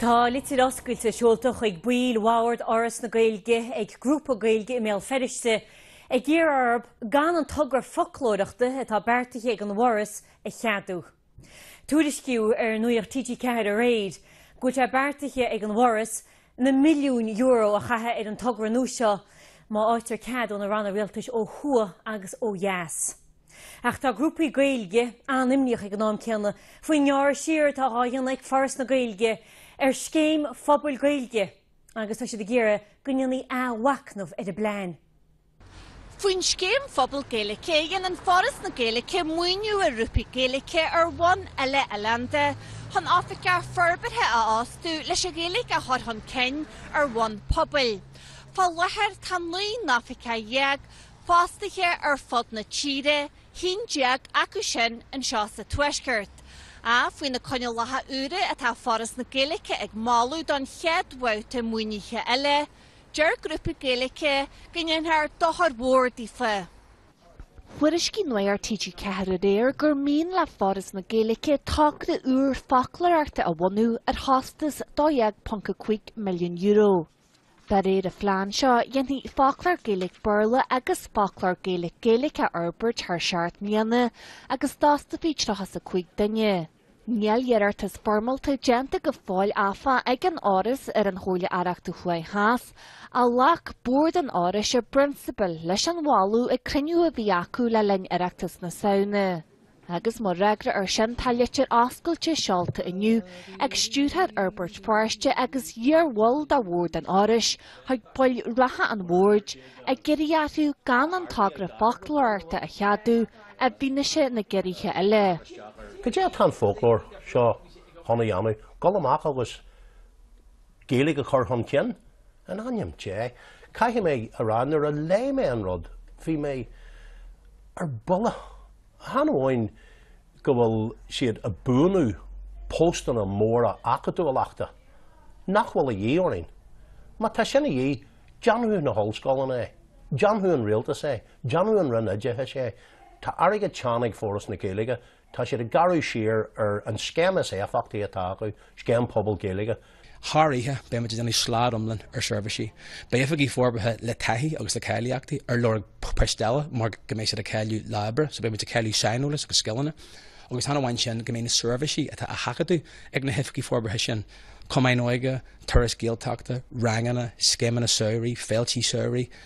Tá litir oscailte seolta chuig baill bhoird Fhoras na Gaeilge ag grúpa Gaeilge i mBéal Feirste ag iarraidh orthu gan an togra foclóireachta atá beartaithe ag an bhForas a cheadú. Tuairiscíodh ar Nuacht TG4 aréir go bhfuil sé beartaithe ag an bhForas na milliúin euro a chaitheamh ar an togra nua seo má fháightear cead ó na ranna rialtais ó thuaidh agus ó dheas. Ach tá grúpaí Gaeilge an-imníoch ag an am céanna faoin ngearradh siar atá á dhéanamh ag Foras na Gaeilge ar Scéim Phobail Gaeilge agus tá siad ag iarraidh go ndéanfaí athmhacnamh ar an bplean. Faoin Scéim Phobal Gaeilge, dhéanann Foras na Gaeilge maoiniú ar ghrúpaí Gaeilge ar bhonn uile-oileánda chun oifigeach forbartha a fhostú leis an Ghaeilge a chur chun cinn ar bhonn pobail. Fá láthair, tá naoi n-oifigeach déag fostaithe ar fud na tíre, haon déag acu sin anseo sa Tuaisceart. Ach faoi na coinníollacha úra atá Foras na Gaeilge ag moladh don chéad bhabhta maoinithe eile, Deir grúpaí Gaeilge go ndéanfar dochar mór daofa. Thuairiscigh Nuacht TG4 aréir gur mian le Foras na Gaeilge togra úr foclóireachta a bhunú ar chostas €12.5 milliún. De réir an phlean seo, dhéanfaí foclóir Gaeilge-Béarla agus foclóir Gaeilge-Gaeilge a fhorbairt thar seacht mbliana agus d'fhostófaí 35 duine. Níl iarratas foirmeálta déanta go fóill áfach ag an Fhoras ar an Chomhairle Aireachta Thuaidh Theas, ach ghlac Bord an Fhorais i bprionsabal leis an mholadh ag cruinniú a bhí acu le linn Oireachtas na Samhna. Agus mar fhreagra air sin tá litir oscailte seolta inniu ag Stiúrthóir Fhorbairt Feirste agus iarbhall de Bhord an Fhorais chuig baill reatha an Bhoird ag iarraidh orthu gan an togra foclóireachta a cheadú I bhfianaise na gciorruithe eile. Cad é atá an foclóir seo chun a dhéanamh? Dul amach agus Gaeilge a chur chun cinn? In ainm Dé! Caithfidh mé a rá, nuair a léigh mé an rud, bhí mé ar buile. Chan amháin go bhfuil siad ag buanú postanna móra acadúlachta, nach bhfuil a dhíth orainn? Má tá sin a dhíth, déanadh na hollscoileanna é, déanadh an rialtas é, Déanadh an Roinn Oideachais é. Tá airgead teann ag Foras na Gaeilge. Tá siad ag gearradh siar ar an scéim is éifeachtaí atá acu, Scéim Pobal Gaeilge. Thar oíche, beidh muid ag déanamh slad iomlán ar seirbhísí. Beidh oifigigh forbartha le taithí agus le cáilíochtaí ar lorg poist eile mar go mbeidh siad ag cailleadh lá oibre, so beidh muid ag cailleadh saineolas agus scileanna. Agus chan amháin sin, go mbeidh na seirbhísí atá á seachadadh ag na hoifigigh forbartha sin, cumainn óige, turais Gaeltachta, ranganna, scéimeanna samhraidh, féiltí samhraidh,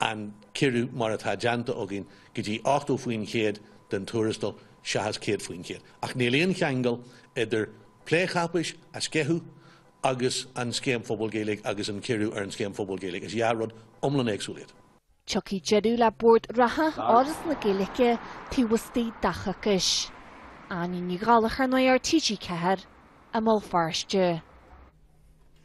an ciorrú mar atá déanta againn go dtí 80% den tuarastal seachas 100%. Ach níl aon cheangal idir plé cháipéis a sceitheadh agus an Scéim Phobail Ghaeilge agus an ciorrú ar an Scéim Phobail Ghaeilge. Is dhá rud iomlán éagsúil iad. Tiocfaidh deireadh le Bord reatha Fhoras na Gaeilge taobh istigh de choicís. Áine Ní Ghallachair, Nuacht TG4, i mBéal Feirste.